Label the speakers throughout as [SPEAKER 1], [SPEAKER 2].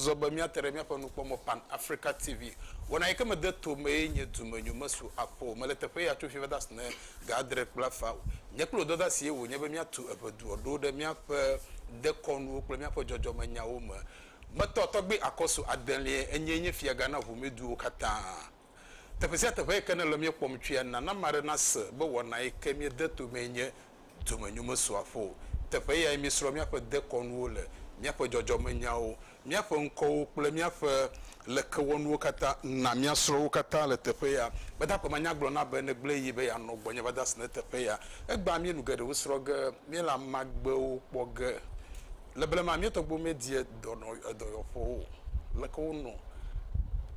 [SPEAKER 1] zɔ be míate ɖe míaƒe nukpɔmɔ pan africa tv wɔna yi ke mede to mee nye dumenyo mesu akpɔ o mele teƒe ya tso fi va de asi ne ga adre kple afa o nye kple dɔda sie wònye be míatu eŋeduɔ ɖo ɖe míaƒe dekɔnuwo kple míaƒe dzɔdzɔmenyawo me Gbetɔ tɔgbi akɔsu adelie enyee nye fiaga na ʋumeduwo katã. Teƒe sia teƒe yi ke nèle míekpɔm tsoea, nana ame aɖe nase be wɔna yi ke míede to mee nye domenyo mesrɔ̃aƒe o. Teƒe yae míesrɔ̃ míaƒe dekɔnuwo le, míaƒe dzɔdzɔmenyawo, míaƒe ŋkɔwo kple míaƒe lekewɔnuwo katã. Na míasrɔ̃ wo katã le teƒe ya. Gbadagbe ma nya gblɔ na be negblẽ yi be yeanɔ gbɔnye va de asi ɖe teƒe ya. Egbea míenu geɖewo srɔ̃ ge, míele amagbewo kpɔ ge. Le blema, mía tɔgbuiwo medie dɔyɔƒewo o. Leke wonɔ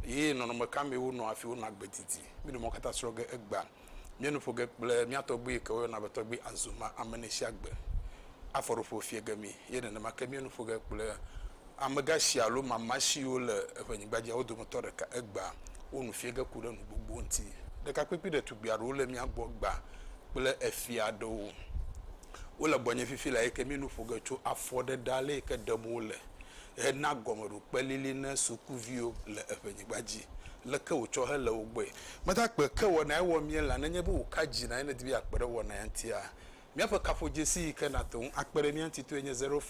[SPEAKER 1] eye nɔnɔme ka mee wonɔ hafi wonɔ agbe didi? Míɖo mɔ katã srɔ̃ ge egbea. Míenu ƒo ge kple mía tɔgbui yi ke woyɔna be Tɔgbui Azumah Ameneshiagbe. Afɔɖoƒo fia ge mí eye nenema ke míenu ƒo ge kple amegashi alo mama siwo le eŋɛnyigba dzia wo dometɔ ɖeka egbea. Wo nu fia ge ku ɖe nu gbogbo ŋuti. Ɖekakpuikpui ɖetugbui aɖewo le mía gbɔ egbea kple efia aɖewo. Wole gbɔnye fifi le eyike mi nu ƒo ge tso afɔ ɖe ɖa le yike ɖem wole he na gɔme ɖo kpe lili ne sukuviwo le eƒe nyigba dzi leke wò tsɔ he le wo gbɔe. Meda kpe ke wɔna ye wɔ mie la nenye be wò ka dzi na ye ne di be ya kpe ɖe wɔna ya ŋuti ya. Miaƒe kaƒo dzesi yike na te ŋu akpe ɖe mia ŋuti toe nye zero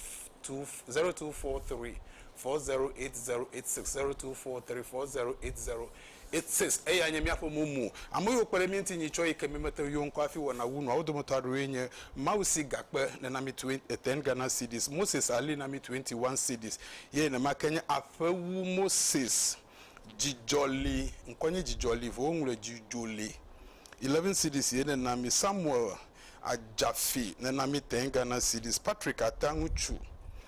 [SPEAKER 1] two zero two four three four zero eight zero eight six zero two four three four zero eight zero Isis, Eyae nye míaƒe mo mu. Ame yiwo kpe ɖe mí ŋuti nyi tsɔ yi ke mímete ŋu yɔ ŋkɔ hafi wɔna wu nuawo dometɔ aɖewoe nye, Mawu si gakpe ne na mí twen, e ten Ghana cedis, Moses ali na mí twenty one cedis, ye nema ke nye aƒe wu Moses, Dzidzɔ li, ŋkɔ nye Dzidzɔ li vɔ woŋlɔe Djujo li, eleven cedis ye nena mí, Samuel Adjafi nena mí ten Ghana cedis, Patrick Ata ŋutsu.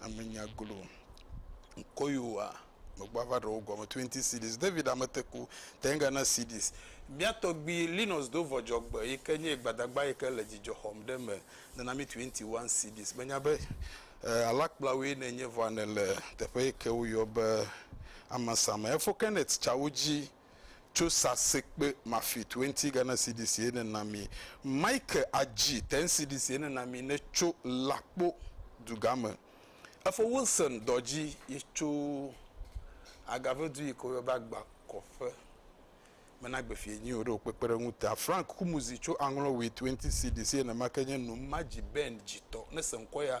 [SPEAKER 1] ame nya glo ŋkɔ yewoa megba va ɖewo gɔme 20 cds david ameteku tenga na cds mia tɔgbi linus do vɔdzɔgbe yi ke nye gbadagba yi ke le dzidzɔ xɔm ɖe me nana mi 21 cds menya be eh, alakplawoe nenye vɔa nele teƒe yi ke woyɔ be amasame efo kenneth tsawo dzi tso sasekpe mafit wenti gana CDC ene na mi. Mike adzi ten CDC ene na mi ne tso lakpo dugame. Efo Wilson dɔdzi yi tso agave du yi ko yɔ be agba kɔƒe me na gbefi enyi o ɖe o kpekpe ɖe ŋu ta. Frank kumuzi tso aŋlɔ wit wenti CDC ene ma ke nye num madzi Ben dzi tɔ ne se ŋkɔ ya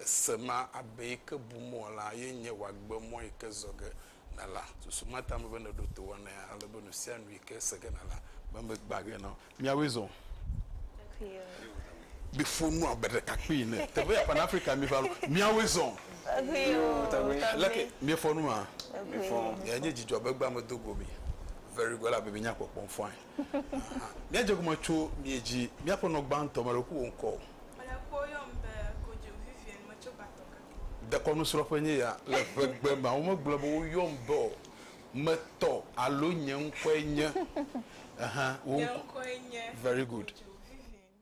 [SPEAKER 1] Ese ma, abe yi ke bum wò la, ye nye wòagbe mɔ yi ke zɔ ge nèla. Susu ma ta mebe nèɖo to wɔnae ale be nu sia nu yi ke se ge nèla be megbã ge na wò. Míawoe zɔ o. Miƒo nu abe ɖekakpui ene. Teƒe ya ƒã na Afrika miva lo. Míawoe zɔ o. Leke miefɔ nu hã? Enye dzidzɔ be egbea medo go mi. Very good. Elabe mienya kpɔkpɔm fɔe. Míadze egɔme tso mía dzi, míaƒe nɔ gbãtɔ, mele ku wò ŋkɔ o. Mele kpɔ yɔm be kodzo vivien metso gbatɔ ke kpɔ. Dekɔnu srɔƒe nye ya le ʋegbe ma womegblɔ be woyɔm be o me tɔ alo nye ŋkɔe nye ehã wò ŋkɔ nye ŋkɔe nye very good. Kodzo vivien.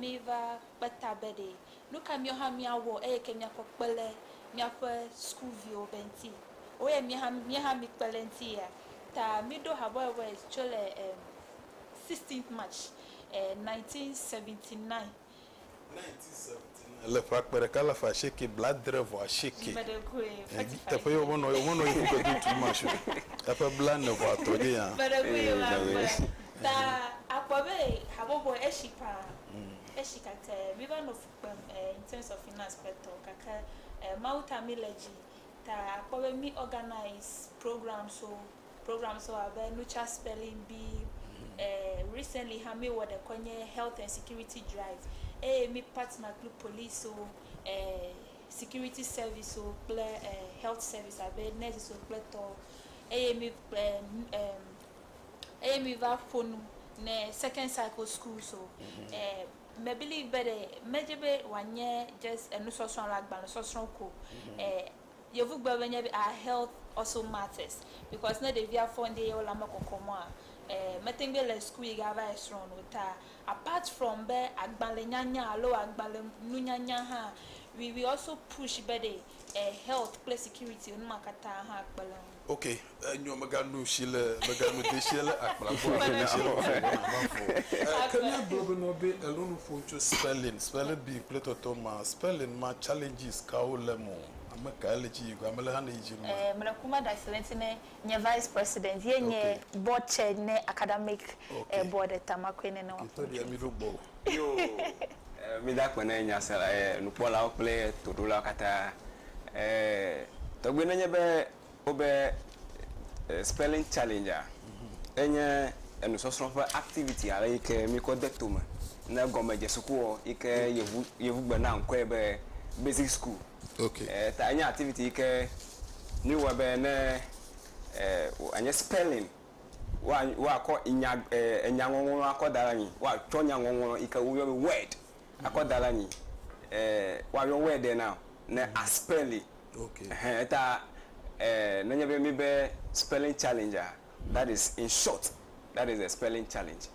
[SPEAKER 2] Míva kpe ta be ɖe nu ka míawo hã míawɔ eye ke míakɔ kpe le míaƒe sukuviwo be ŋuti. Woyɛ mía hã mía hã míkpe le eŋuti ya ta míɖo habɔbɔe tso le em sixteenth March eh nineteen seventy nine.
[SPEAKER 1] Le ƒe akpe ɖeka alafa asieke blaadre vɔ asieke dzi, teƒe
[SPEAKER 2] ye womenɔ ye womenɔ
[SPEAKER 1] ye ƒuƒe do tu ma sue eƒe blaene vɔ atɔ dzi ya. Ta
[SPEAKER 2] akpɔ be habɔbɔ eshi pa eshi gake mi va nɔ fu kpem in terms of finance kple tɔ gake Mawu ta mi le dzi ta akpɔ be mi organise programs wo. Programs wɔ abe Nucha Spelling Bee, eh, recently hã mi wɔ ɖe kɔ nye Health and Security Drive, eye mi partner kple police wo, eh, security service wo kple eh, health service abe nurses wo kple tɔ, eye mi kpe, em, eye mi va ƒo nu ne Second Cycle Schools wo. Mhm. Eh, me believe be ɖe medze be wòanye just enusɔsrɔ̃ alo agbalẽsɔsrɔ̃ ko, mhm. eh, Yevugbe be nye be our health also matters because ne ɖevia fɔ ŋdi eye wole ame kɔkɔ mɔa eh meteŋ be le school yi ga va yi srɔ̃ no ta apart from be agbalẽ nyanya alo agbalẽ nu nyanya hã we we also push be ɖe eh health kple security wo numa katã hã kpe le ŋu. Ok, enyo
[SPEAKER 1] meganu shi le meganu de shi le akpla gbɔ ale de shi le fo wɔna va fo. Eh, ke mia gblɔ be nɔ be elo nu ƒo ŋtso spelling, spelling bee kple tɔtɔ ma, spelling ma challenges kawo le mo? Ame kae le dzi yigɔ, ame le hã ne yi dzi nu ma? Eh, mele kuma da si
[SPEAKER 2] le ŋti ne nye vice president ye nye okay. board chair ne academic okay. eh, board eta ma koe ne ne wa ƒo ŋtso. Ke tɔ ɖia mi ɖo gbɔ o.
[SPEAKER 3] Yoo! Mida akpe ne nyasela, nukpɔlawo kple toɖolawo katã. Tɔgbe nenye be wobe spelling challenge a, enye enusɔsrɔ̃ ƒe activity ale yi ke mikɔ de tome ne gɔmedzesukua yi ke yevu yevugbe na ŋkɔe be basic school. Ok. Ta
[SPEAKER 1] enye activity yi
[SPEAKER 3] ke miwɔe be ne wòanye spelling. woa woakɔ nya e enya ŋɔŋlɔ akɔ da ɖe anyi. Woatsɔ nya ŋɔŋlɔ yi ke woyɔ be word akɔ da ɖe anyi. E woayɔ word ɖe na ne a spɛli. Okay. Ehɛn eta e nenye be míbe spelling challenge a that is in short that is a spelling challenge.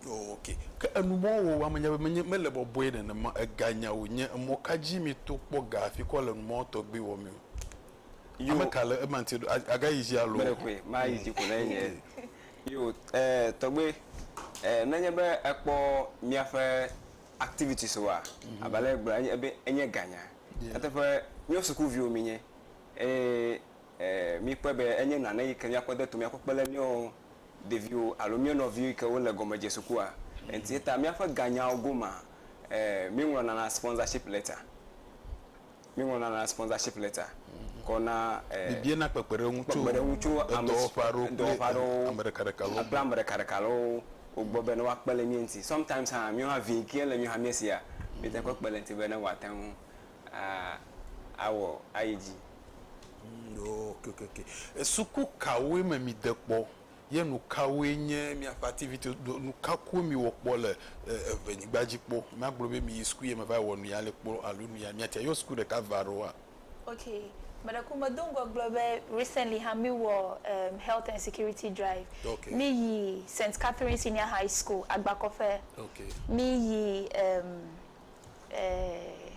[SPEAKER 1] Oh okay. Ke enu mɔ wò ame nya be menye mele bɔbɔe nenema ega nya wò nye emɔ ka dzi mí to kpɔ ga afi kɔ le numɔ tɔgbi wɔ mí o? yo ame ka le ema ŋuti ɖo aga yi dzi alo me ɖe koe ma yi dzi ko
[SPEAKER 3] ne nye yo eh, tɔgbe eh, nenye be ekpɔ míaƒe activities wa mhm. abe ale gblɔ enye be enye ganya nyateƒe míaƒe sukuviwo mi nye eye eh, mi kpɔe be enye nane yi ke míakpɔ de to míakpɔ kpe le míawo ɖeviwo alo míawo nɔviwo yi ke wole gɔme dze sukua enti eta míaƒe ganyawo goma eh, mi ŋlɔ nana sponsorship letter Míeŋlɔna lã sponsorship letter kɔ na eh, Míebiana
[SPEAKER 1] kpekpeɖeŋu tso kpekpeɖeŋu tso ame edɔwɔƒe si- aɖewo kple edɔwɔƒe aɖewo ame ɖekaɖeka lɔ kple gbɔ. ame
[SPEAKER 3] ɖekaɖeka lɔwo wo gbɔ be ne woakpe le mía ŋuti. Sometimes hã míwo hã vi ke le míwo hã mía sia, míete kpɔ kpe le eŋuti be ne wòate ŋu a awɔ ayi dzi. Ŋ, ok, ok,
[SPEAKER 1] ok. Suku kawoe me mìde kpɔ? ye nukawoe nye miaƒe ativitiwo do nuka koe miwɔ kpɔ le eve nyigba dzi kpɔ magblɔ be miyi suku ye me va wɔ nuya le kpɔ alo nuya miatsa yɔ suku ɖeka va ɖo wa. Ok
[SPEAKER 2] meɖeku me do ŋgɔ gblɔ be recently hã mi wɔ em health and security drive okay. mi yi
[SPEAKER 1] St
[SPEAKER 2] Catherine senior high school agbakɔƒe okay. mi
[SPEAKER 1] yi
[SPEAKER 2] em eh,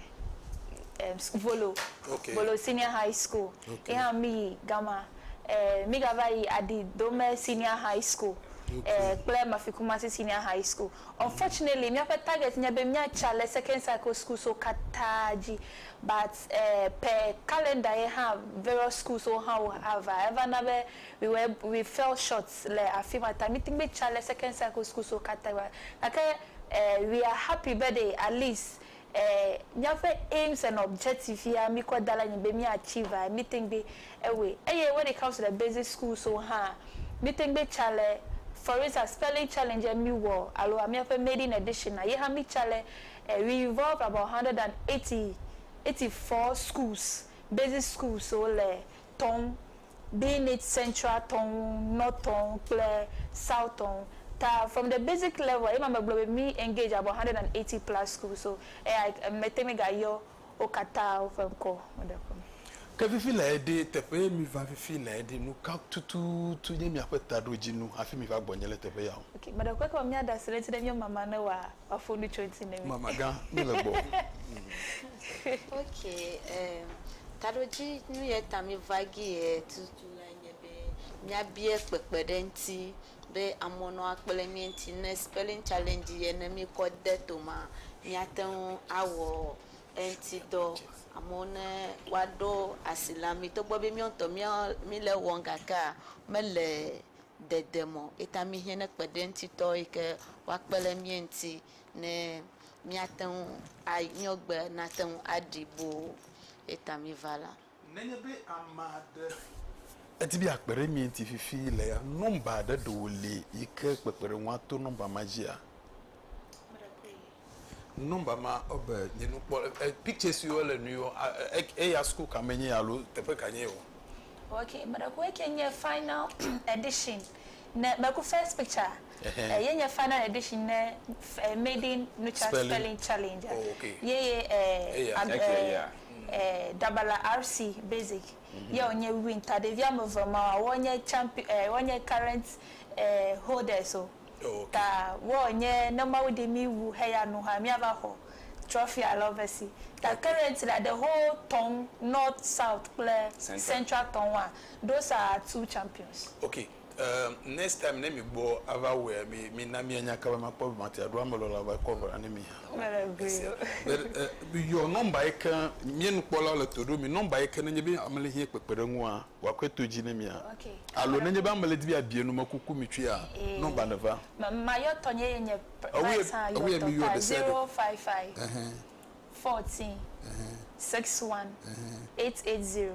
[SPEAKER 2] eh, Volo, okay. Volo
[SPEAKER 1] Senior High
[SPEAKER 2] School. Okay. Eha mi yi
[SPEAKER 1] gama.
[SPEAKER 2] Eh, mi gava yi Adi Dome Senior High School. Okay. Eh, kple Mafikumasi Senior High School. Mm-hmm. Unfortunately, mm -hmm. miaƒe target nye be miatsa le second cycle school so katã dzi. But eh, per calendar ye ha various schools wo ha wo hava. Eva na be we were we fell short le afima ta. Mi tingbe tsa le second cycle school so katã. Gake Eh we are happy birthday Alice eh míaƒe aims and objective ya míkɔ da ɖe anyi be mía achieve a míte ŋgbe ewɔe eye when it comes to the basic schools wo hã míte ŋgbe tsa le for instance spelling challenge ye míwɔ alo a míaƒe maiden edition a yehã mítsa le eh we involve about hundred and eighty eighty four schools basic schools wo le tɔm Be nit central tɔn north tɔn kple south tɔn ta from the basic level ema me gblɔ be mi engage about hundred and eighty plus schools so eya me te ŋui ga yɔ wo kata wo ƒe ŋkɔ o ɖe ƒe me. Ke
[SPEAKER 1] fifi le eɖe teƒe ye mi va fifi le eɖe nu ka tututu nye mia ƒe taɖodzinu hafi mi va gbɔ nye le teƒe ya o. Ok meɖe kpɔe ke me mia ɖe
[SPEAKER 2] asi ɖe ŋuti ɖe mia mama ne wa Wafo nu tso ŋuti ne mi. Mama gã, mi le gbɔ.
[SPEAKER 1] Ok,
[SPEAKER 4] um, taɖodzi nu yɛ ta mi va gi yɛ tutu lae nye be mía biɛ kpekpe ɖe ŋuti be amewo nɔ akple mi ŋuti ne spelling challenge yɛ ne mi kɔ de to ma mía te ŋu awɔ eŋuti dɔ. Amewo ne woaɖo asi la mi togbɔ be míɔ ŋutɔ mía mi le wɔm gakea me le dede mɔ eta míhiã ne kpeɖeŋutitɔ yi ke woakpe ɖe mía ŋuti ne míate ŋu a nyɔgbe nate ŋu aɖi boo ye ta míva la. Nenye be ame
[SPEAKER 1] aɖe edi be yeakpe ɖe mía ŋuti fifi le ya, nɔmba aɖe ɖe wòli yi ke kpekpeɖeŋua to nɔmba ma dzia? Nɔmba ma wobe nye nukpɔle e picture si wole nui wo a e eya sukuu ka me nye alo teƒe ka nye wo. Ok meɖeku
[SPEAKER 2] eke nye final edition ne meku first picture e ye nye final edition ne e maiden nucha spelling, spelling challenge a oh, okay. ye ye e eya ag eke eya e dabala RC basic mm -hmm. ye wo nye win ta ɖevi ame eve ma woa nye champion e woa nye current e holders o. Ta wɔ nye ne Mawu ɖi mí wu heya nu hã míava xɔ trɔfi alo ve si. Ta current la the whole tɔn north south kple central tɔn wa those are our two champions. Ok
[SPEAKER 1] next time ne mi gbɔ ava wɔɛ mi mi na mi anya kaba ma kpɔ be ma te aɖo ame lɔla va kɔ ŋgɔ ne mi hã o. Mele gui o. Your number yi ke mía nukpɔlawo le to ɖo mi number yi ke ne nye be ame le hiɛ kpekpeɖeŋua. wòakɔe to dzi ne mia. Alo nenye be
[SPEAKER 2] ame le di
[SPEAKER 1] be yeabia nu me kuku mi tsoe a, nɔmba ne va. Ma yɔ tɔ nye
[SPEAKER 2] ye nye price
[SPEAKER 1] hã yɔ tɔ
[SPEAKER 2] ka
[SPEAKER 1] 055 14 61880.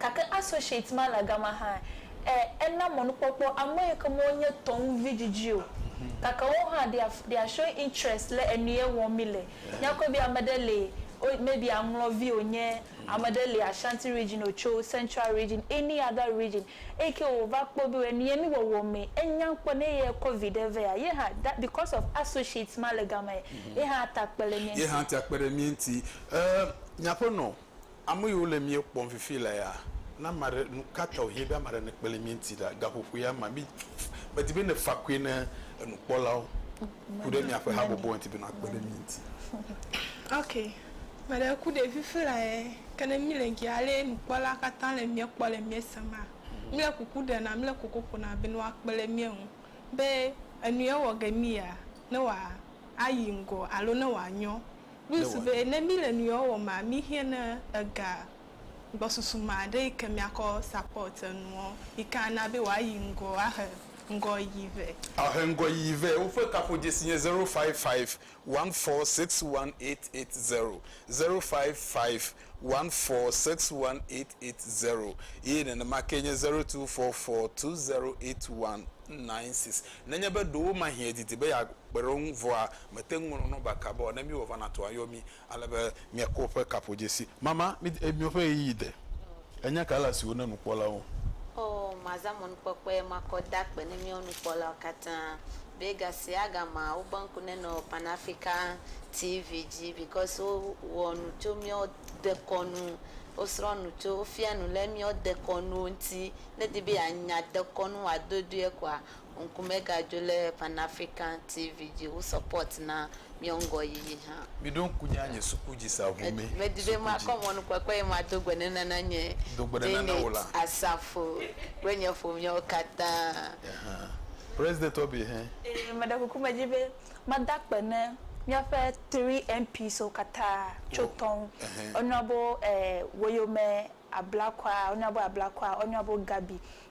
[SPEAKER 2] Gake associate ma le gama hã. Ẽ, ena mɔnukpɔkpɔ ame yi ke me wonye tɔ ŋu vidzidzi o. Gake wo hã they are, they are showing interest le enuye wɔm mi le. Mìakpɔe be ame ɖe li, wo, maybe aŋlɔvi wònye, ame ɖe li Ashanti region wòtso, Central region, any other region, eyi ke wòva kpɔ be enuye mi wɔwɔ me enya ŋkpɔ ne eyae kɔ viɖe vea, ye hã, that, because of associate ma le gamae, ye hã ate akpe ɖe mía ŋuti. Ye hã ate akpe ɖe mía ŋuti. Ẽ,
[SPEAKER 1] mìaƒe nɔ, Ame yiwo le mía kpɔm fifi la ya, ne ame aɖe, nu ka ta wòhiã be ame aɖe nekpe ɖe mía ŋuti ɖa? Gaƒoƒo ya ma, mi, medi be nèfa koe ne enukpɔlawo ku ɖe miaƒe habɔbɔa ŋuti be nwoakpe ɖe mía ŋuti. Ok,
[SPEAKER 5] me ɖe ku ɖevi fifi la ya, ke ne mi le gi ale nukpɔla katã le mía kpɔ le mía sem a, mi le kuku ɖena, mi le koko ƒona be ne woakpe ɖe mía ŋu be enu ye wɔ ge mi ya, ne wòa ayi ŋgɔ alo ne wòa nyɔ. Plus be ne mí le nuyɔɔ wɔmaa, mí hiɛ ne ega gbɔsusu maa ɖe yike mía kɔ support enuɔ, yike a na be woa yi ŋgɔ a he ŋgɔ yiyi vɛ. A he ŋgɔ yiyi
[SPEAKER 1] vɛ. Woƒe kaƒodzesi nye zero five five one four six one eight eight zero, zero five five 146880 eye nenema kee nye 0244208196. Nenye be ɖewomahie èdidi be yeakpe ɖe wo ŋu vɔa, mète ŋu ŋlɔ nɔmba ka be o. Ne míewɔ vana tɔa, yɔ mí ale be míakpɔ woƒe kaƒodzesi. Mama, mídi míaƒe ɣeyiɣi de. Ènya ka ele asi wò ne nukpɔlawo? Oo, mazã
[SPEAKER 4] mɔnukpɔkpɔe makɔ da akpe ne míawo nukpɔlawo katã. be gasiaga ma wo be ŋku nenɔ pan Africa TV dzi because wo wɔ nu tso miɔ dekɔnu wo srɔ nu tso wo fia nu le miɔ dekɔnuwo ŋti ne di be ya nya dekɔnu wa dodoe kɔa ŋku me ga dzo le pan Africa TV dzi wo support na Miɔ ŋgɔ yiyi hã. Miɖo ŋku nye anye
[SPEAKER 1] suku dzi sa ŋu me. Medi be makɔ
[SPEAKER 4] mɔnukpɔkpɔ eye mado gbe ɖe nana nye Janet
[SPEAKER 1] Asafo
[SPEAKER 4] kple nye ƒomeawo katã.
[SPEAKER 1] Meɖe kuku
[SPEAKER 2] medi be mada akpe ne míaƒe 3MPswo katã tso tɔ ŋu. Woyɔna wo be Ablakwa, woyɔna wo be Ablakwa, woyɔna wo be Gabi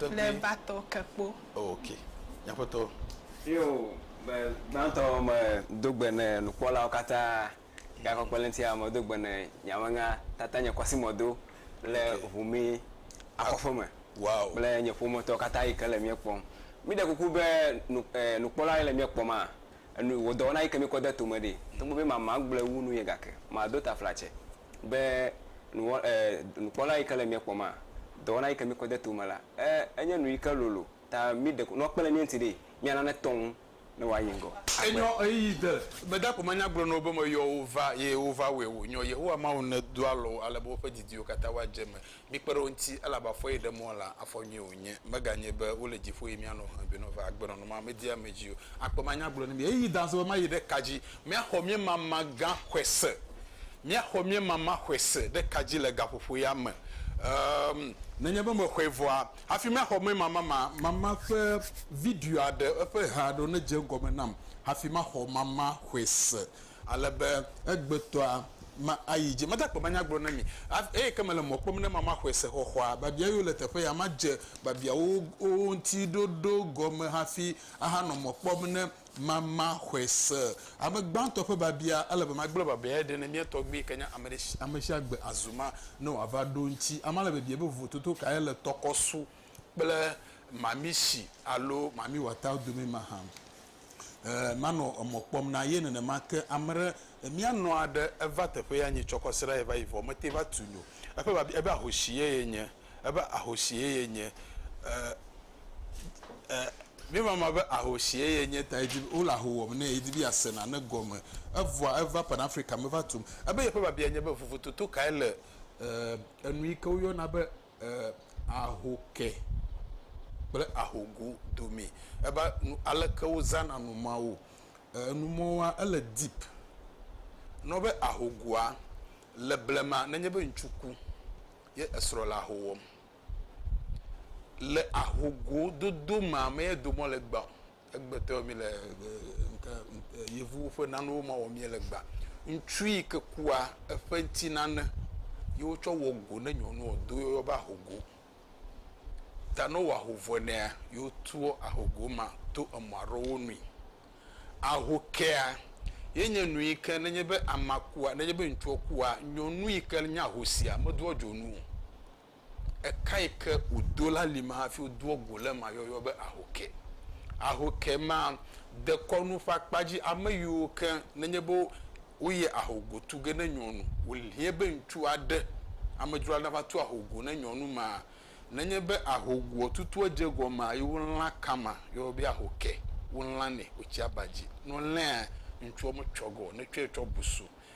[SPEAKER 5] le batɔ ke kpo. Ok,
[SPEAKER 1] Aƒetɔ. Eo,
[SPEAKER 3] be gbãtɔ me do gbe ne nukpɔlawo kata, ga kɔkɔe le ŋtia me do gbe ne nyamenya tata nye kɔsi mɔ do le ʋu mi akɔƒe me kple
[SPEAKER 1] nye ƒometɔ
[SPEAKER 3] kata yi ke le mia kpɔm. Mi ɖe kuku be nu eh nukpɔla yi le mia kpɔm ah enu wodɔwɔna yi ke mi kɔ de tome ɖi. Togbe be mama gble wu nu ye gake ma do taflatse be nuwɔ, e, nukpɔla yi ke le mía kpɔm a, dɔwɔna yi ke mí kɔ de to me la, e, enye nu yi ke lolo ta mí ɖeko nɔ kpe le mía ŋuti ɖee, mía nane tɔ ŋu ne wòa yi ŋgɔ agbe. Enyɔ ɣeyiɣi de.
[SPEAKER 1] Meda ko manya gblɔ na wo be meyɔ wo va, eye wova wɔe wònyɔ. Yehowa Mawu nedoa alɔ wo ale be woƒe didiwo katã woadze eme. Mikpe ɖe wo ŋuti, elabe afɔ ye ɖe mɔ la, afɔ nyui wònye, meganye be wole dziƒo eye míanɔ ʋẽ be nɔva agbe nɔnɔme amedie ame dzi o. Akpe manya gblɔ na mi ɣeyiɣi dazɔ be mayi ɖe ka dzi. Míaxɔ míemama gã xɔse, míaxɔ míemama xɔse ɖe ka dzi le gaƒoƒo ya me? Ɛ̃, nenye be mexɔe vɔa, hafi maxɔ míemama ma, mama ƒe video aɖe, eƒe he aɖe nedze egɔme nam hafi maxɔ mama xɔse. Ale be egbetɔa ma ayi dzi. Meda akpe be anya gblɔ na mi. Eyi ke mele mɔ kpɔm ne ma maxɔe se xɔxɔa. Biabia yiwo le teƒe ya madze biabiawo wo ŋuti ɖoɖo gɔme hafi ahanɔ mɔ kpɔm ne ma maxɔe se. Ame gbãtɔ ƒe biabia, ele be magblẽ biabia aɖe ne mía tɔgbui yi ke nye amesiagbe azu ma ne wòava ɖo ŋuti. Amea le biabiam be vovototo kae le tɔkɔsu kple mamishi alo mamiwɔtawo dome mahã. Ɛɛ, manɔ emɔ kpɔm na ye nenema ke. Ame ɖe, mía nɔ aɖe, eva teƒe ya nyi tsɔkɔ srã ye va yi vɔ mete va tu nyo. Eƒe biabia, ebe ahoshi ye ye nye? Ebe ahoshi ye ye nye? Ɛɛ, ɛɛ, mi mama be ahoshi ye ye nye ta ye di be, wole aho wɔm nɛ ye di be ya se nane gɔme. Evɔa eva Pan Africa me va tum. Ebe yeƒe biabia nye be vovototo kae le, ɛɛ, enu yike wo yɔna be e ahoke kple ahogo domee. Ebe nu aleke wozãna nu mawo. E nu mɔwoa ele deep. Ne wɔ be ahogoa, le blema ne nye be ŋutsu ku ye esrɔ̃ le aho wɔm, le ahogo dodo mea me ye do mɔ le gbã o. Egbetɔ mi le yevuwo ƒe nanewo ma wɔ mie le gba. Ŋutsu yi ke kua eƒe ŋuti nane ye wotsɔ wɔ go ne nyɔnu ɔ do yɔyɔ be ahogo. Ta ne wowɔ aho vɔe nɛa ye wotua ahogo ma to emɔ aɖewo nui. Ahokea ye nye nu yi ke ne nye be amea kua ne nye be ŋutsua kua nyɔnu yi ke nye ahosia medoa dzonu o. Ekãe ke wòdo la li ma hafi wodoa go le ema yɔyɔ be ahoke. Ahoke ma dekɔnu ƒe akpa dzi ame yiwo ke nenye be woyia ahogo tu ge ne nyɔnu. Wòhiã be ŋutsu aɖe, amedzro aɖe nava tu ahogo ne nyɔnu ma. Nenye be ahogoa tutua dze egɔmea, ye wolã ka ma yɔyɔ be ahoke. Wolãnɛ, wotsia ba dzi. Ne wolãea, ŋutsua metsɔgɛ o, netsɔe tsɔ bu su.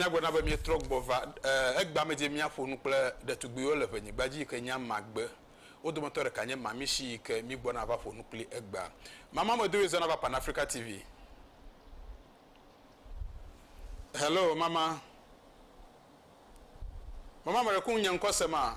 [SPEAKER 1] Nyagblɔɖa be míetrɔ gbɔ va egbea me dzi míaƒo nu kple ɖetugbuiwo le ʋenyigba dzi yi ke nye amagbe. Wo dometɔ ɖeka nye Mami Shi yi ke mígbɔna va ƒo nu kpli egbea. Mama me do zɔna va Pan Africa TV. Hello mama. Mama me ɖe ku nye ŋkɔ se ma.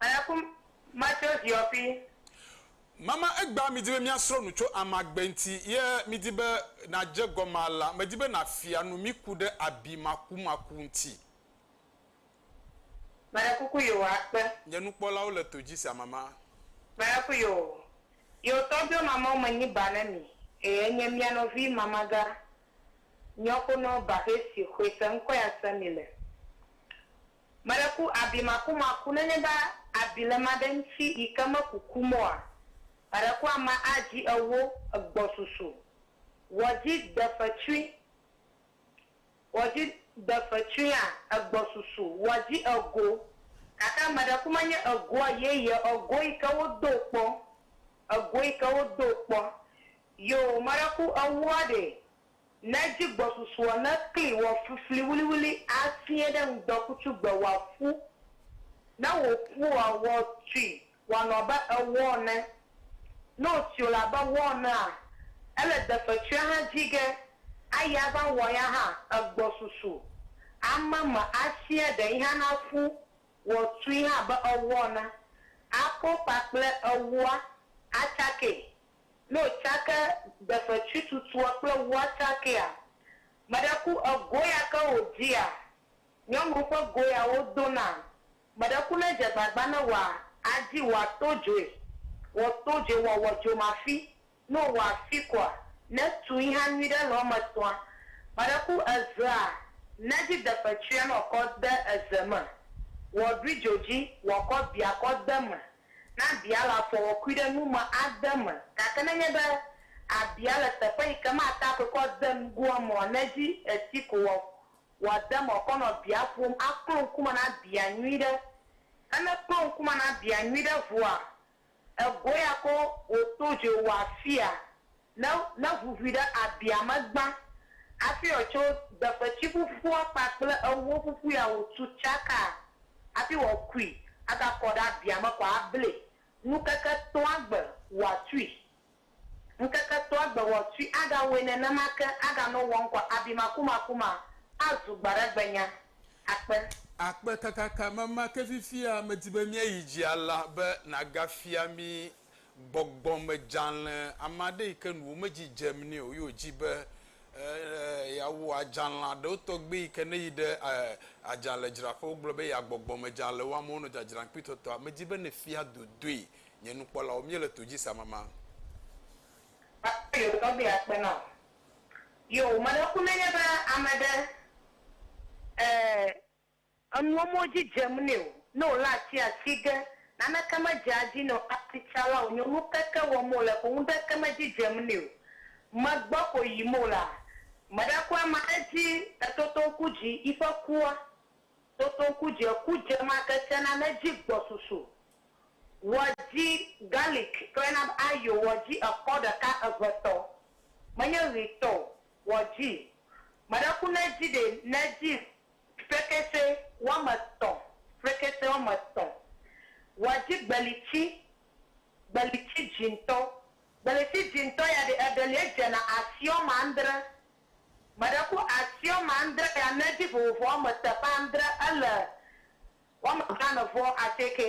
[SPEAKER 6] Aya ku ma tso ziɔ ƒi. Mama
[SPEAKER 1] egbea midi be míasrɔ̃ nu tso amagbe ŋuti ye midi be nàdze egɔme alea, medi be nàfia nu mí ku ɖe abi makumaku ŋuti.
[SPEAKER 6] Meɖe kuku yoo akpe. Nye nukpɔlawo le to
[SPEAKER 1] dzi sia mama. Meɖe ku
[SPEAKER 6] yoo. Yoo tɔgbiɔ mamawo me nyi ba ne mi eye enye mía nɔvi mamaga nyɔkonɔ ba xɛ si xoe se ŋkɔe ase mi le. Mele ku abi makumaku nenye be abi le ma ɖe ŋti yi ke me kukum oa? Mele ku ama a dzi ewo egbɔsusu wɔ dzi defetsui wɔ dzi defetsui a egbɔsusu wɔ dzi ego gake mele ku menye egoa yeye ego yi ke wo do kpɔ ego yi ke wo do kpɔ yoo mele ku ewoa ɖe Ne dzigbɔsusuɔ ne kli wɔ flifli wuliwuli afiẽ ɖe ŋdɔkutsu gbe wɔ aƒu. Ne wò ƒua wɔ tui wɔanɔ abe ewɔ ene. Ne wò tui le abe wɔ enea, ele defetsuia hã dzi ge ayi ava wɔ ya hã egbɔsusu. Ame me afiẽ ɖe yi hã na ƒu wɔ tui hã abe ewɔ ene. Aƒo kpakple ewɔa atsakee Ne o tsake defetui tutua kple ŋua tsakea, meɖe ku egoya ke o dzia, nyɔnu ƒe goya wo dona, meɖe ku ne dze gbagba ne wa adzi wa to dzoe, wɔ to dzoe wa wɔ dzomafi, ne o wa fi kɔa, ne tu iha nyui ɖe le eme tɔa, meɖe ku ezea ne dzi defetuia nɔ kɔ de eze me, wɔ ɖui djo dzi, wɔ kɔ bia kɔ de me. na bia le afɔwɔkui ɖe nu me ade eme, gake nenye be abia le teƒe yi ke mate akɔe kɔ ade nugo eme o, nedzi esi ko wɔ wòade eme wòkɔ nɔ bia ƒom aklo ŋkume na bia nyuiɖe. Ne meklo ŋkume na bia nyuiɖe vɔa, egoe ya ko wòto dzoe wòafia. ne ne ʋuʋui ɖe abia me gbã hafi wòatso deƒetsi ƒuƒua kpakple ewo ƒuƒu ya wòtu tsaka hafi wòakui agakɔ ɖe abia me kɔ ablae. Ŋkeke etɔ̃a gbe wòatui. Ŋkeke etɔ̃a gbe wòatui agawɔe nenema ke aganɔ wɔm kɔ abi makumaku ma azu gbaɖagbenya. Akpe.
[SPEAKER 1] Akpe kakaka mama ke fifia medi be míayi dzi alea be nàgafia mí gbɔgbɔmedzalẽ, ame aɖe yi ke nu womedzi dzem nɛ o ye wòdi be yeawu adzalẽ aɖewo tɔgbi yi ke ne eyi ɖe adzalẽdzraƒe wogblɔ be ya gbɔgbɔmedzalẽ wɔm wonɔ dzadzram kpi tɔtɔa, medi be ne fia dodoe nye nukpɔlawo míele to dzi se amama. Gake yewo
[SPEAKER 6] tɔgbi akpe na wò. Yoo, meɖe ku nenye be ame ɖe, e, Enuwo me dzi dzem nɛ o. Ne wòlé atia asi ge, naneke medzea edzi nɛ o. Asitsala wònye o. Nukeke wɔm wòle ko ŋuɖeke medzi dzem nɛ o. Megbɔ ko yim wòlea, meɖaku ama edzi le totoŋkudzi, yiƒe kua. Totoŋkudzi, eku dze ema ke tsena ne edzi gbɔ susu. Wɔ dzi garlic klẽ nam ayo, wɔ dzi ekɔ ɖeka eve tɔ. Menye ɣi tɔ o. Wɔ dzi. Meɖaku ne edzi ɖɛ, ne edzi Frekese woame etɔ̃, frekese woame etɔ̃, wòadzi gbelitsi, gbelitsi dzĩtɔ. Gbelitsi dzĩtɔ ya ɖi eɖelie dzena asi woame adre. Meɖe ku asi woame adre ya ne edzi vovo woame teƒe adre, ele woame blaene vɔ asieke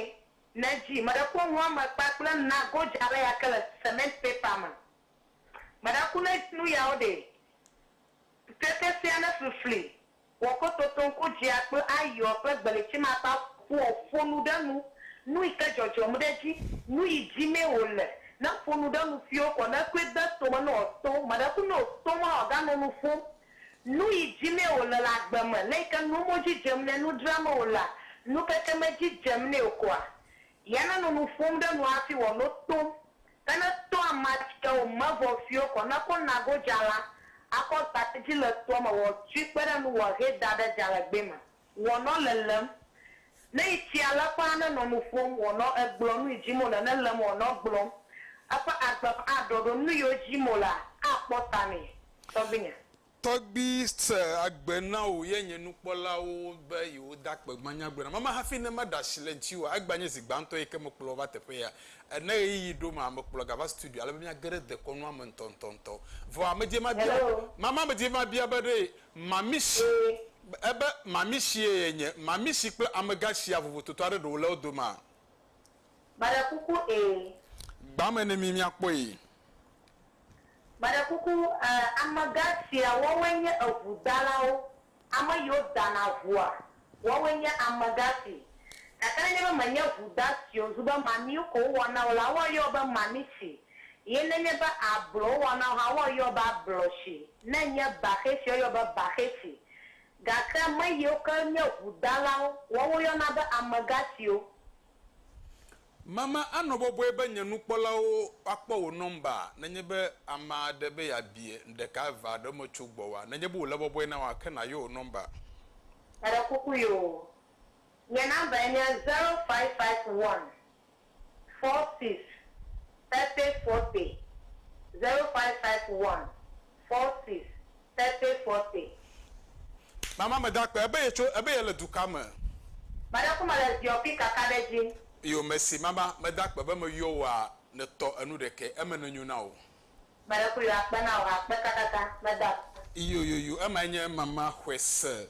[SPEAKER 6] ne edzi. Meɖe ku enu woame kpakple na godza aɖe ya ke le cement paper me. Meɖe ku ne edzi nu yawo ɖe. Ŋkeke sia ne flifli wɔ ko totoŋku dzea kple ayiɔ ƒe gbelitsimakpa ƒoa ƒo nu ɖe nu, nuyi ke dzɔdzɔm ɖe edzi, nuyi dzimee wòle, ne ƒo nu ɖe nu siwo kɔ ne koe de tome ne wòato meɖekunu o, tom la wòaganɔ nu ƒom. Nuyi dzimee wòle le agbe me, le yi ke nuwo me wodzi dzem nɛ, nu dramee wòlea, nukeke medzi dzem nɛ o koa, Ya nanɔ nu ƒom ɖe nu hafi wòano tom. Ke ne to amea tsia o me vɔ fiɔ kɔ ne ko nago dza la, akɔ gbate dzi le toa me wòatui kpe ɖe ŋu wòahee da ɖe dza le gbe me. Wòanɔ lelém. Ne yi tsia le ƒãa ne nɔ nu ƒom wòanɔ egblɔ nu yi dim wòle ne lém wòanɔ gblɔm. Eƒe agbe aɖɔɖɔ nu yiwo dim wòlea akpɔ ta nɛ. Tɔgbuinye. Tɔgbi
[SPEAKER 1] se agbe na wò ye nye nukpɔlawo be yewo da kpe gbanyagblɔ nam. Ame hafi ne ma ɖe asi le ŋutiwò o, egbea nye zi gbãtɔ ye ke me kplɔ wò va teƒe ya. Ene ɣeyiɣi ɖo ma me kplɔ ga va studio ale be mía ge ɖe dekɔnua me ŋutɔ ŋutɔ ŋutɔ. Vɔ ame dzie ma bia, ma ma ame dzie ma bia be ɖee mamishi ebe mamishi ye ye nye, mamishi kple amegã shia vovototo aɖe ɖe wole wo domea? Meɖe
[SPEAKER 6] kuku ee. Gba
[SPEAKER 1] me ne mi miakpɔe.
[SPEAKER 6] Meɖe kuku ee. Amegã sia woawoe nye eŋu dalawo, ame yiwo dana ŋua, woawoe nye amegã si. Gake nenye be menye ŋu da siwo zu be mamiwo ko wowɔna o la, woayɔ wo be mami si, ye nenye be ablo wowɔna o hã woayɔ wo be ablo si, ne enye baxɛ si, woayɔ wo be baxɛ si. Gake ame yiwo ke nye ŋu dalawo, woawo woyɔna be amegã siwo.
[SPEAKER 1] Mama anɔ bɔbɔe be nye nukpɔlawo akpɔ wò nɔmba nenye be ame aɖe be yeabie nuɖeka, eve alo eme tso gbɔwòa? Nenye be wòle bɔbɔe na wò ake nàyɔ wò nɔmba. Meɖe
[SPEAKER 6] kuku yoo, nye nɔmbae nye zero five five one four six thirty forty zero five five one Forces, Sete Forte.
[SPEAKER 1] Mama me da kpe. Ebe ye tso, ebe ye le du ka me? Mada ku
[SPEAKER 6] me le ziɔ pi kaka ɖe dji. Iyo mesi
[SPEAKER 1] mama me da kpe be me yɔ wo a ne tɔ enu ɖekɛ eme ne nyo na wo. Me ɖe ku yo a
[SPEAKER 6] kpe na wo ha kpe kakaka me da kpe. Iyo yoyo ema
[SPEAKER 1] enye mama xwe se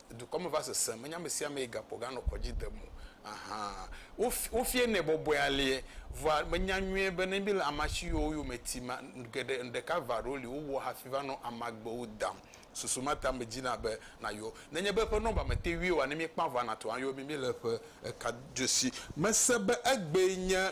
[SPEAKER 1] dukɔ me va sesẽ, menye amesiamee gakpɔ ganɔ kɔ dzi dem o ahan. Wofienɛ bɔbɔe aleɛ. Vɔa menya nyuie be ne mile amasiwo yome tim a, geɖe ŋɖeka va ɖo li wowɔ hafi va nɔ amagbewo dam. Susu ma ta medzina be nayɔ. Nenye be eƒe nɔmba mete ŋui oa, ne míekpã ʋua nato ayɔ mí míle eƒe ekadosi. Mese be egbee nye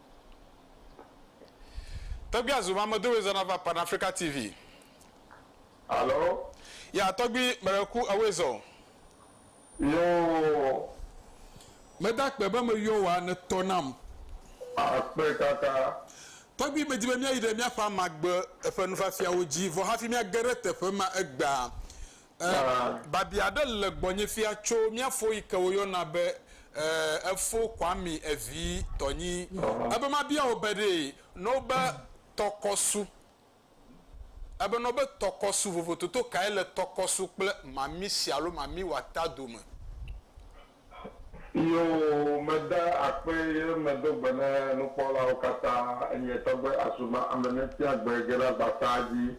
[SPEAKER 1] Tɔgbui azu mamedowe zɔna va Pan Africa TV.
[SPEAKER 7] Alo. Ya
[SPEAKER 1] tɔgbui mele ku ewoe zɔ o. Yoo.
[SPEAKER 7] Meda
[SPEAKER 1] akpe be me yɔ woa ne tɔ nam. Akpe
[SPEAKER 7] kaka. Tɔgbui medi
[SPEAKER 1] be mía yi ɖe mía ƒe amagbe ƒe nufiafiawo dzi vɔ hafi mía ge ɖe teƒe ma egbea Ẽ, babia aɖe le gbɔnye fia tso mía fo yi ke woyɔna be ẽ, efo Kwame evi tɔ nyi. Ebe mabia wò be ɖee nɔ wobe tɔkɔsu, ebe nɔ wobe tɔkɔsu vovototo kae le tɔkɔsu kple mamisi alo mamiwata dome.
[SPEAKER 7] Iyo, meda akpe ye medo gbe ne nukpɔlawo katã, enye tɔgbe asuma ame ne tia gbe ge ɖe agbataa dzi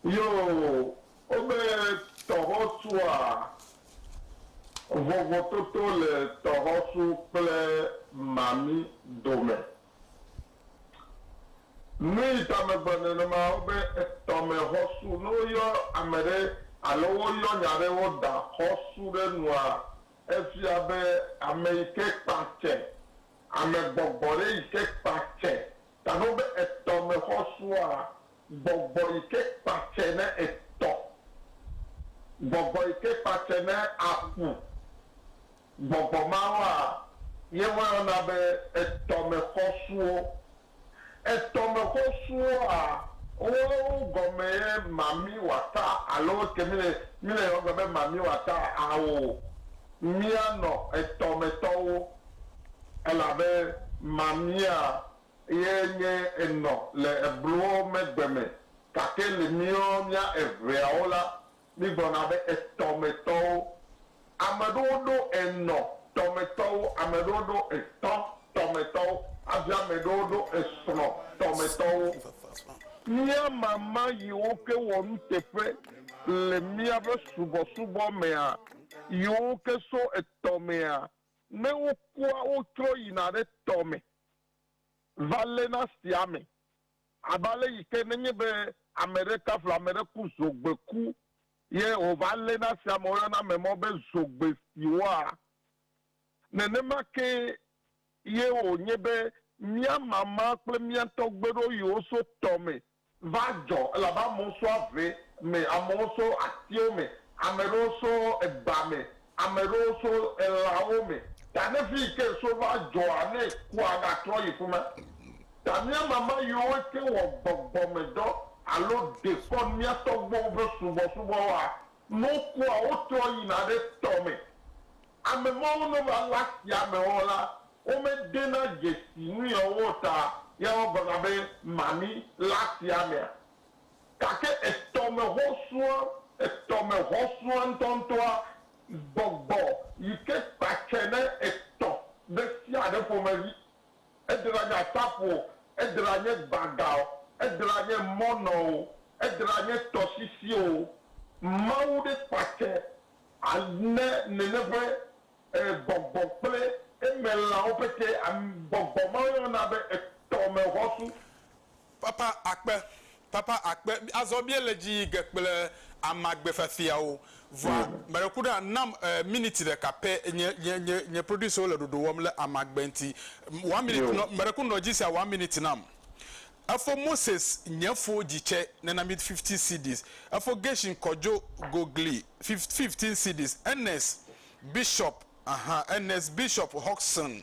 [SPEAKER 7] Yoo, wobe tɔxɔsua, Vovototo le tɔxɔsu kple mami dome. Nuyi ta megblɔ nenema wobe tɔmexɔsu, ne woyɔ ame ɖe alo woyɔ nya ɖe woda xɔsu ɖe nua, efia be ame yi ke kpa tsɛ, amegbɔgbɔ ɖe yi ke kpa tsɛ. Ta ne wobe tɔmexɔsua, Gbɔgbɔ yi ke kpa tse ne etɔ. Gbɔgbɔ yi ke kpa tse ne aƒu. Gbɔgbɔ mawoa, ye woayɔna be etɔmexɔsuwo. Etɔmexɔsuwoa, woawo gɔme ye mami wɔata alo woke mi le mi le yɔgbe be mami wɔata ao. Mia nɔ etɔmetɔwo elabe mamia Eye nye enɔ le eblowo megbe me, gake le míwo mía eveawo la, mígblɔna be etɔmetɔwo. Ame ɖewo ɖo enɔ tɔmetɔwo, ame ɖewo ɖo etɔ tɔmetɔwo, hafi ame ɖewo ɖo esrɔ̃ tɔmetɔwo. Mía mama yiwo ke wɔ nuteƒe le míaƒe subɔsubɔ mea, yiwo ke so etɔ mea, ne wokua, wotrɔ yina ɖe tɔ me. va léna sea me, abe ale yi ke nenye be ame ɖe taflu ame ɖe ku zogbeku ye wòva léna sea me, woyɔna ame mawo be zogbesiwoa, nenema ke ye wònye be mía mama kple mía tɔgbeɖoyiwo so tɔme va dzɔ elabe amewo so ave me, amewo so atiwo me, ame ɖewo so eba me, ame ɖewo so elãwo me. Ta ne fi yi ke eso va dzɔa, ne kua gatrɔ yi fima, ta míama ame yiwo ke wɔ gbɔgbɔmedɔ alo ɖe kɔ mía tɔgbuiwo ƒe subɔsubɔwoa Mɔ kua wo trɔ yina ɖe tɔ me. Ame mawo ne va le asia me wo la, wo me de na dzesi nu ya wo ta ya wo gblɔ na be mami le asia mea. Gake etɔ me xɔ sua, etɔ me xɔ sua ŋutɔ ŋutɔa, gbɔgbɔ yike kpa tse ne etɔ ɖe sia ɖe ƒomevi. Edra nye aƒaƒu o, edra nye gbagã o, edra nye mɔnɔ o, edra nye tɔsisi o. Mawu ɖe kpɔate ane nene ƒe gbɔgbɔ kple eme lãwo pete. Gbɔgbɔ ma woyɔna be etɔmexɔsu.
[SPEAKER 1] Papa akpe, papa akpe, azɔ míele dzi yi ge kple amagbe fiafiawo. Vɔa, meɖe ku ɖa, nam miniti ɖeka pɛ, nye, nye, nye, nye producerwo le ɖoɖo wɔm le amagbe ŋuti. One minute, nɔ, meɖe ku nɔ dzi sia one miniti nam. Efo Moses nye fo dzi tsɛ, nena mí fifteen cedis. Efo Gershon Kojo Gogli, fif, fifteen cedis. Ernest Bishop, ahan, Ernest Bishop Hodgson.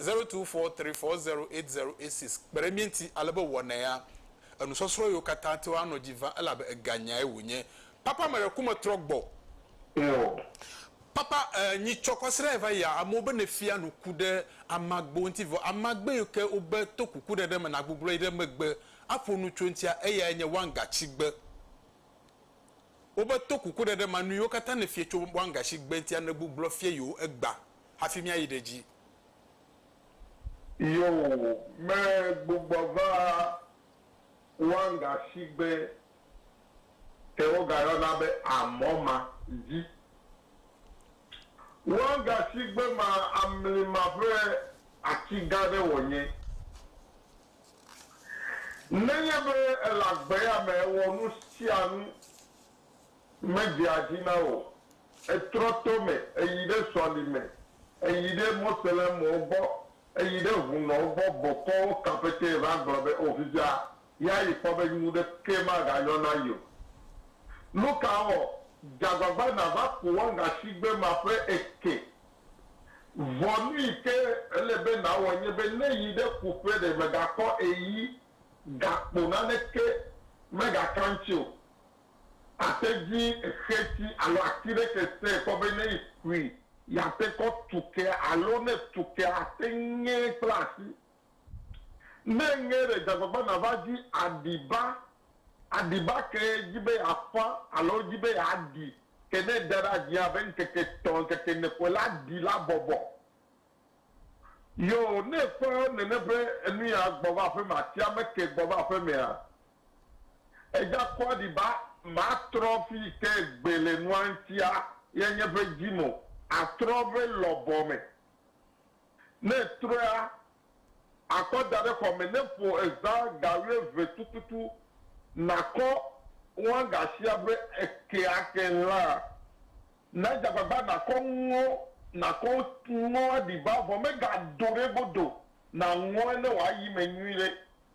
[SPEAKER 1] zero two four three four zero eight zero eight six kpe ɖe mía ŋuti ale be wɔnɛa, enusɔsrɔ̃ yiwo katã te woanɔ dzi vam elabe eganyae wònye. Papa me ɖe ku me trɔ gbɔ. Eo. Papa e nyi tsɔ kɔsrɛ va yia amewo be ne fia nu ku ɖe amagbewo ŋuti vɔ amagbe yiwo ke wo be to kuku ɖeɖe me na gbuglɔ yi ɖe megbe aƒo nu tso ŋutia eyae nye wangatsigbe wo be to kuku ɖeɖe ma nu yiwo katã ne fie tso wangatsigbe ŋutia ne gbuglɔ fia yiwo egba hafi míayi ɖe dzi.
[SPEAKER 7] Yoo, me gbugbɔ va Wanga shigbe ke woga yɔna be Amɔ ma dzi. Wanga shigbe ma amlima ƒe ati gã ɖe wɔ nye. Nenye be ele agbe ya me ewɔ nu sia nu Medea dzi na wò. Ètrɔ to me, èyi ɖe sɔlime, èyi ɖe Moslemwo gbɔ, èyi ɖe hũnɔwo gbɔ bɔkɔ wo kã pɛtɛ va gblɔ be, O fifia, yi ayi kpɔ be nu ɖekee maganyɔ na yi o. Nu ka wɔ? Dze agbagba nàva ku wɔga shigbe maƒe eke. Vɔ nu yi ke ele be nàwɔ nye be ne yi ɖe ku ƒe ɖe mègakɔ eyi gakpo naneke megaka ŋuti o. Ate dzi xeti alo ati ɖe ke sẽe kpɔ be ne ekui yeate kɔ tu kea alo ne etu kea ate ŋee kple asi. Ne eŋee ɖe dzagbagba nava dzi aɖiba aɖiba ke edzi be yeaƒã alo edzi be yeaɖi ke ne eda ɖe adzia abe ŋkeke etɔ̃ ŋkeke ene koe la ɖi la bɔbɔ. Yoo ne eƒã nene ƒe enuya gbɔ va aƒeme atia meke gbɔ va aƒemea Egakpɔa ɖi ba matrɔ fi yi ke gbe le nua ŋtia ye nye ƒe dzi mo atrɔ ƒe lɔbɔ me. Ne etrɔa akɔ da ɖe xɔ me ne ƒo ezã ga wuieve tututu nakɔ wɔgasia ƒe eke ake hã. Nadze agbagba nakɔ nuwo nakɔ nuwo aɖi ba vɔ megado ɖe egodo naŋɔe ne wòayi me nyuiɖe.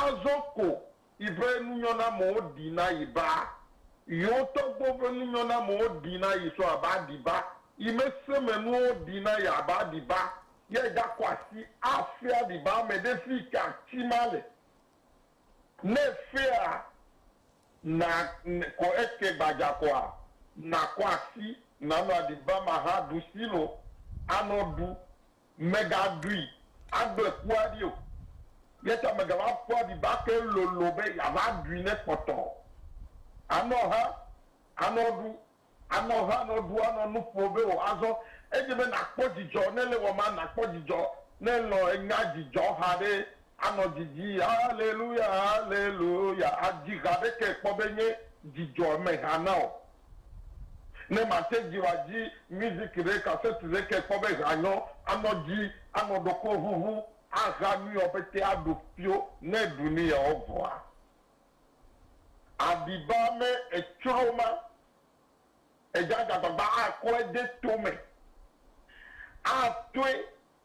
[SPEAKER 7] Azɔ ko yi ƒe nunyɔnamewo ɖi na yi ba, yewo tɔgbuiwo ƒe nunyɔnamewo ɖi na yi sɔ abe aɖi ba, yi me se me nuwo ɖi na yi abe aɖi ba, ye gakɔ asi afia aɖi ba me ɖe fi ka ati ma le. Ne efea na ko eke gbadza koa, nakɔ asi, nanɔ aɖi ba ma hã ɖusi lo, anɔ ɖu. Mègaɖui agble kua ɖi o, eya ta mègava ƒu aɖibake lolo be yeava ɖui ne kpɔtɔ o. Anɔ ha, anɔ ɖu, anɔ ha, anɔ ɖu, anɔ nu ƒo be o. Azɔ edze be nàkpɔ dzidzɔ ne ele wɔm, nàkpɔ dzidzɔ ne elɔ̃ enya dzidzɔha ɖe, anɔ didi, Aleluya, aleluya, adzi ha ɖe ke kpɔ be nye dzidzɔ meha na o. Ne mate dzi wa dzi music ɖe cassette ɖe ke kpɔ be ha nyɔ, anɔ dzi, anɔ ɖokɔ ʋuʋu, axa nuiɔ pɛtɛ aɖu pio ne ɖu nuiɔ vɔa aɖi ba me etsro ma edza dzagbagba akɔe de to me atoe.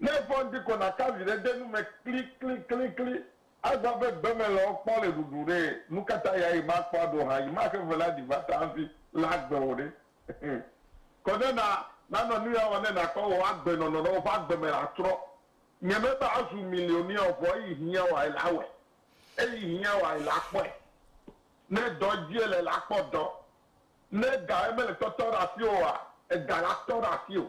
[SPEAKER 7] Ne vɔ̃di ko nàka viɖe de nu me klikliklikli azã be gbemelãwo kpɔ le ɖuɖu ɖe, nukata ya yi makpɔ aɖo hã yi maxe ʋe la ɖi va ta hafi le agbe o ɖe? Kɔ ne na nanɔ nuya wɔm ne nàkpɔ wò agbenɔnɔ ɖe woƒe agbe me la trɔ. Nye mebe azu milionea o, vɔ eyi hiã wɔae la awɔe. Eyi hiã wɔae la akpɔe. Ne dɔ dzie le la akpɔ dɔ. Ne egae mele tɔtɔ ɖe asiwò oa, ega la tɔ ɖe asiwò.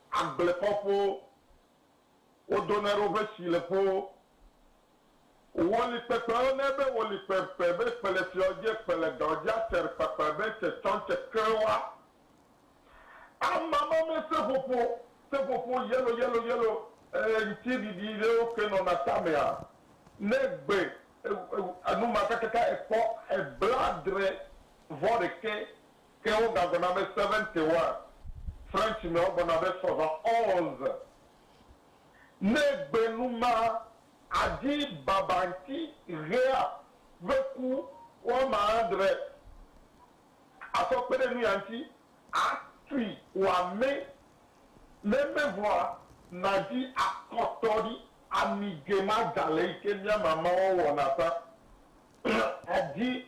[SPEAKER 7] Agbleƒɔƒowo, wodona ɖe woƒe sileƒowo, woli kpekpewo ne be woli kpekpe be kpe le fiɔ dzi ekpe le dɔ dzi aser kpekpe be tse tsɔ ŋtse kerewa ama ma me seƒoƒo seƒoƒo yellow yellow yellow ee ŋti ɖiɖi ɖewo ke nɔna tamea ne gbe enu ma kakaka ekpɔ ebla adre vɔ ɖekɛ Ke wogagblɔna be seventy wa, French me wogblɔna be soixante onze. Ne gbe nu ma adi baba ŋti ɣea ƒe ku woama adre asɔ kpe ɖe nuya ŋti atui wòamẽ, ne mevɔa nàdi akɔtɔɖi ami ge ma dza le yi ke mia mama wɔwɔ na ta adi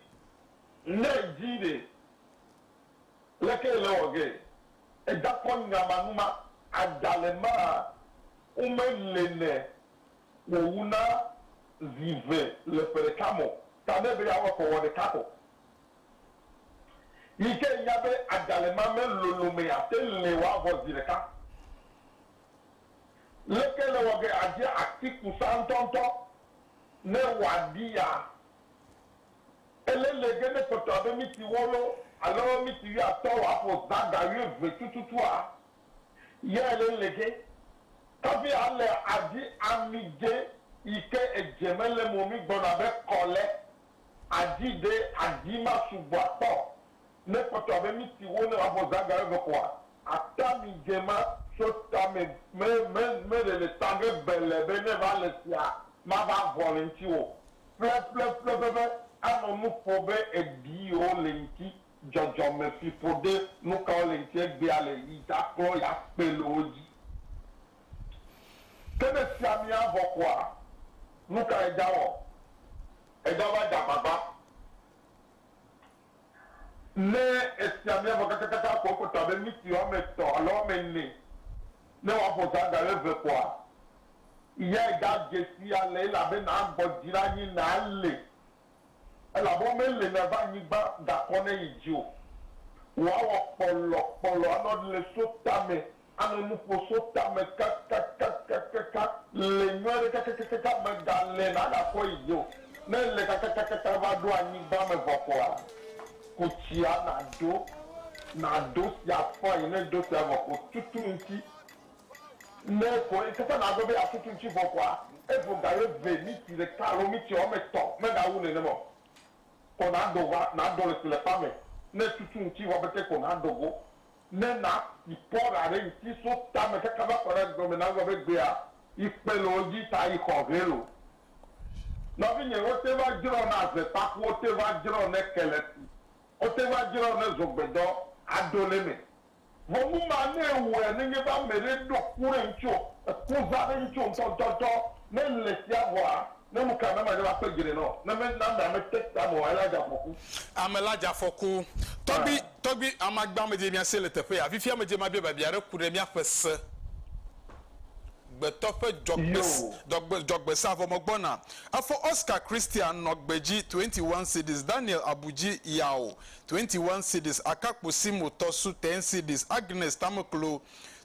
[SPEAKER 7] Ne edzi ɖe, leke le wɔ ge eda kɔ nya ma nu ma? Ada le ma wo me le ne wɔ wu na zi ve le ƒe ɖeka mɔ ta ne be ya wɔ kɔ wɔ ɖeka kɔ. Yi ke nya be ada le ma me lolo me ya te le wɔ avɔ zi ɖeka. Leke le wɔ ge adze atiku sa ŋtɔŋtɔ ne wɔ aɖi ya? Ele le ge ne kpɔtɔ abe miti wolo alo miti wuiatɔ̃ wòaƒo zãga wuieve tututua? Yea ele le ge. Kafi ale adi ami dze yi ke edze me le mo mi gbɔna be kɔ le. Adi ɖe adi ma sugbɔ akpɔ ne kpɔtɔa be miti wo ne abɔ zaga eve koa ata mi ge ma tso ta me me me me ɖe le ta ge bele be ne va le sia ma va vɔ le ŋti wo ƒle ƒle ƒle ƒe ƒe anɔ nu ƒo be eɖi o le ŋti dzɔdzɔ me fi ƒo de nu ka wo le ŋti egbea le yi ta klɔ ya kpe le wo dzi ke ne sia mi avɔ koa nu ka eja wɔ eja va dza gbagba. Ne esia mía vɔ kakakaka ko ekpɔtɔ abe miti woame etɔ̃ alo woame ene ne woaƒo zã ga ɣe ve koa, yae gadze si ale elabena agbɔ dzi ɖe anyi na ale elabe womele na va anyigba gakɔ ne yi dzi o. Wòawɔ kpɔlɔ kpɔlɔ anɔ le so tame Anɔ nu ƒo so tame kakakakakaka le nyɔ aɖe kakakakaka me ga le na ga kɔ yi dzi o. Ne ele kakakakaka va ɖo anyigba me vɔ koa, ku tsia na ɖo, na ɖo tsia fain. Ne ɖo tsia vɔ ko tutu ŋuti. Ne ko kaka na ɖo be ya tutu ŋuti vɔ koa, evo ga ye ve miti ɖeka alo miti wɔ me tɔ me ga wu nɛnɛ me o. Ko na ɖo va, na ɖo le tsi le kpa me. Ne tutu ŋuti vɔ bete ko na ɖo go. Ne na si kpɔ ɖa ɖe ŋti so tame kaka va kɔ ɖe dɔme nagblɔ be gbea yi kpe le wo dzi ta yi xɔ hɛ lo. Nɔvinye wo te va dzrɔ na ze kpaku wo te va dzrɔ ne keleti wo te va dzrɔ ne zogbedɔ ado le me. Vɔ nu ma ne ewɔe ne nye be ameɖe ɖo ku ɖe ŋtsio eku za ɖe ŋtsio ŋtɔtɔtɔ ne le sia vɔa Ne nu ka na manye la kpe dzre nɔ ne me na me ame te ta me o ela dza fɔku.
[SPEAKER 1] Ame la dza fɔku. Tɔgbi, tɔgbi, amagba me dze mia se le teƒe ya. Fifia me dze ma bia babia ɖe ku ɖe mia ƒe se gbetɔ ƒe dzɔgbe, dzɔgbe, dzɔgbe sea vɔ me gbɔna. Efɔ Oscar Christian nɔ gbe dzi 21 cedis, Daniel abu dzi yao 21 cedis, akakpo Simo tɔ su 10 cedis, Agnes tameklo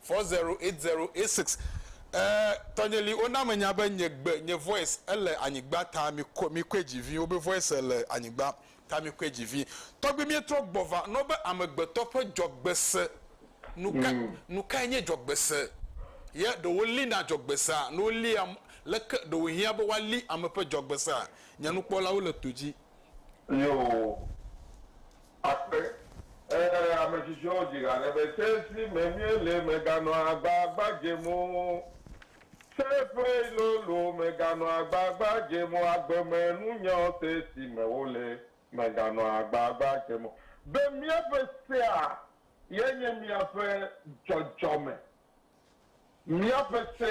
[SPEAKER 1] Four zero eight zero eight six E tɔnye li wo na me nya be nye gbe nye voice e le anyigba ta mi ko mi koe dzi vi wo be voice e le anyigba ta mi koe dzi vi tɔgbi mie trɔ gbɔ va nɔ be amegbetɔ ƒe dzɔgbese nu ka nu kae nye dzɔgbese ye ɖe wo li na dzɔgbesea ne wo lia leke ɖe wo hiã be woa li ame ƒe dzɔgbesea nye nukpɔlawo le to dzi. Yoo.
[SPEAKER 7] Akpe, Ẽ, ame tsitsiwo dzi ha ɖe be se si me míele meganɔa agbagba dzem o. Se ƒe lolo meganɔa agbagba dzem o. Agbemenunyawo se si me wole meganɔa agbagba dzem o. Be míaƒe sea ye nye míaƒe dzɔdzɔme Míaƒe se,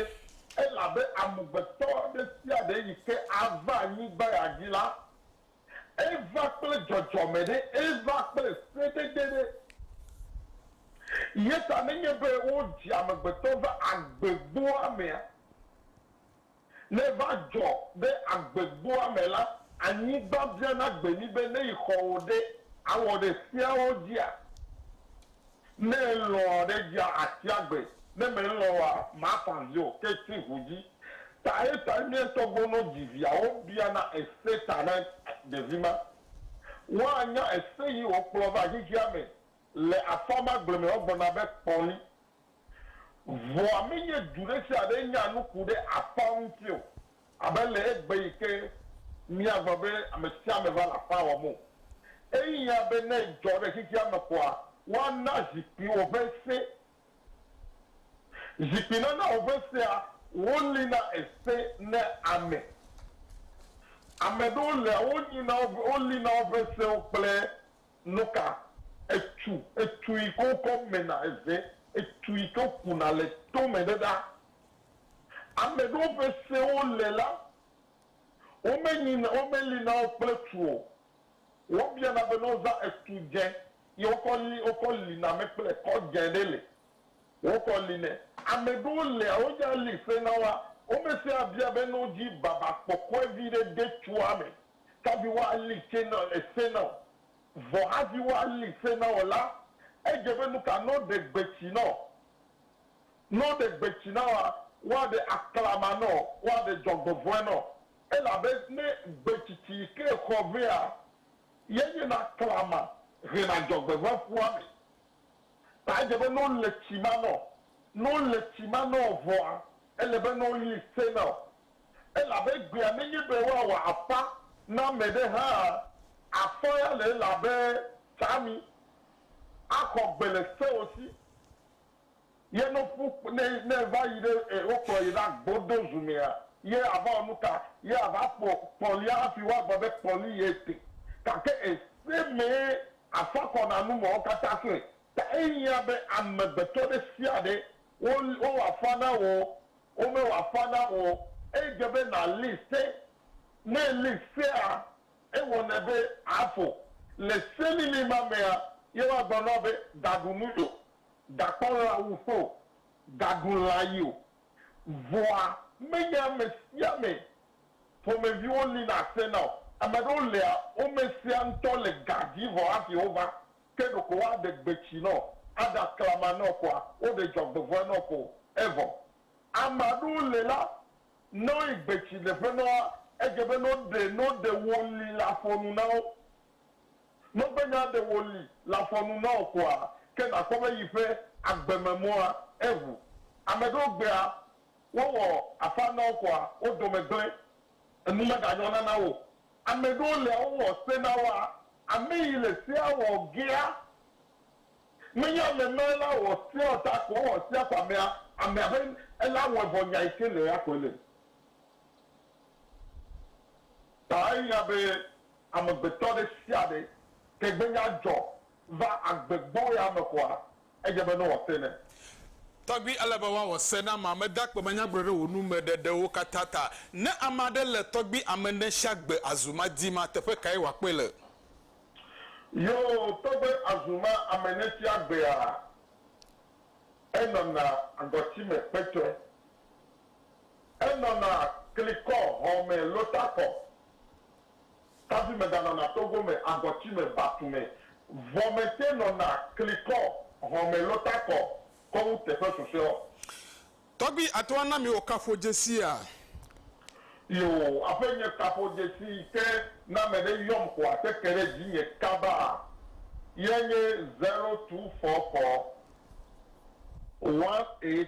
[SPEAKER 7] elabe amegbetɔ ɖe sia ɖe yi ke ava anyigba ya dzi la, eva kple dzɔdzɔme ɖe, eva kple sedede ɖe. Eya ta nenye be wodzi amegbetɔ va agbegboa mea, Ne va dzɔ be agbegboa me la, anyigba biana gbe mí be ne yi xɔ̃wò ɖe, awɔ ɖe seawo dzia? Ne elɔ̃ ɖe edzia asi agbe, ne melɔ̃ oa, mafa vi o, ke tsi ŋu dzi. Taye tae mía ŋutɔ gbɔ no dzi via wobiana ese ta na ɖevi ma. Woanya ese yi wòkplɔ va xexea me le afã ma gbleme woagblɔ na be kpɔli Vɔa menye du ɖe sia ɖe nya nu ku ɖe aƒea ŋuti o, abe le egbe yi ke míagblɔ be ame sia ame va le aƒea wɔm o. Ehiã be ne edzɔ ɖe xexea me koa, woana zikpuiwo ƒe se. Zikpuinanawo ƒe sea, wolĩna ese na ame. Ame ɖewo lea wo nyina wo ƒe, wolĩna woƒe sewo kple Nuka? Etu, etu yi ke wokɔ mena eze, etu yi ke kuna le tome ɖe ɖa. Ame ɖewo ƒe sewo le la, womenyina, womeli na wo kple tu o. Wobiana be ne wozã etu dze ye wokɔ li, wokɔ li na me kple ekɔ dze ɖe le, wokɔ li nɛ. Ame ɖewo lia, wodze ali se na woa, womesea bia be ne wodzi baba kpɔkɔe viɖe de tua me Taviwo ali tsɛ na ese na wò, vɔ haviwo ali se na wò la, edze be nuka ne woɖe gbe tsi na wò? Ne woɖe gbe tsi na wòa, woaɖe aklama na wò, woaɖe dzɔgbevɔ̃e na wò. Elabe ne gbetsitsi yi ke xɔ vɛa ye nye na klama hena dzɔgbevɔ̃e ƒua me, Ta edze be ne wole tsi ma nɔ, ne wole tsi ma nɔ vɔa, ele be ne woyi se na wo. Elabe egbea menye be woawɔ afã na ame ɖe hã. Afã ya le elabe tsãmi axɔ gbe le seo si. Ye no ƒu ne ne va yi ɖe e wo kplɔ yi ɖa gbo do zu mea ye a va wɔ nuka? Ye a va kpɔ kpɔlia hafi wo a gblɔ be kpɔli ye te. Gake e se mee a fa kɔ na nu me wo katã klẽ ta e hiã be amegbetɔ ɖe sia ɖe wo wo wɔ afã na wò o wo me wɔ afã na wò o. E dze be na li se. Ne e li sea e wɔnɛ be a fo. Le se lili ma mea ye wo a gblɔ na wò be ga ɖu nu yo Gakpɔ lã wuƒe o, gaɖu lã yi o. Vɔa menye ame sia ame ƒomeviwo lina asena o. Ame ɖewo lia, wo me sia ŋutɔ le ga dzi vɔ hafi wova. Ke ɖeko woaɖe gbetsi nɔ, aɖe aklama nɔ koa, woɖe dzɔgbevɔ̃e nɔ ko evɔ. Ame aɖewo le la, ne woyi gbetsi ɖeƒe nɔ woa, edze be ne woɖe, ne woɖe wo li la ƒo nu na wo. Nɔgbenya ɖe wòli le afɔ nu na wò koa, ke nàkpɔ be yi ƒe agbe me mɔa eʋu. Ame ɖewo gbea wowɔ afã na wo koa, wo dome gblẽ, enu meganyɔna na wo o. Ame ɖewo lia wowɔ se na woa, ame yi le sea wɔ gea menye ame ma la wɔ sea o ta ko wowɔ sea ko amea, amea ƒe ela wɔe vɔ nya yi ke le eya koe le. Ta ehiã be amegbetɔ ɖe sia ɖe, ke gbe nya dzɔ va agbe gbɔe ame koa, edze be nowɔ se nɛ. Tɔgbui,
[SPEAKER 1] ele be woawɔ se na amea. Meda kpemanyagblɔ ɖe wò nu me ɖeɖewo katã ta. Ne ame aɖe le tɔgbui ame ne sia gbe azu ma di ma, teƒe kae wòakpɔe le? Yoo,
[SPEAKER 7] tɔgbe azu ma ame ne sia gbea, enɔna agɔti me kpetsɔe. Enɔna klikɔ, hɔme, lotakɔ, kavi meganɔna togo me, agɔti me, batu me. Vɔ mete nɔna klikɔ, hɔme, lotakɔ kɔ wu teƒe susɔeɔ. Tɔgbi
[SPEAKER 1] ato ana mi wò kafo dzesia?
[SPEAKER 7] Yoo, aƒe nye kafo dzesi yi ke ne ame ɖe yɔm ko ate ke ɖe dzinye kaba ye nye zero two four four one eight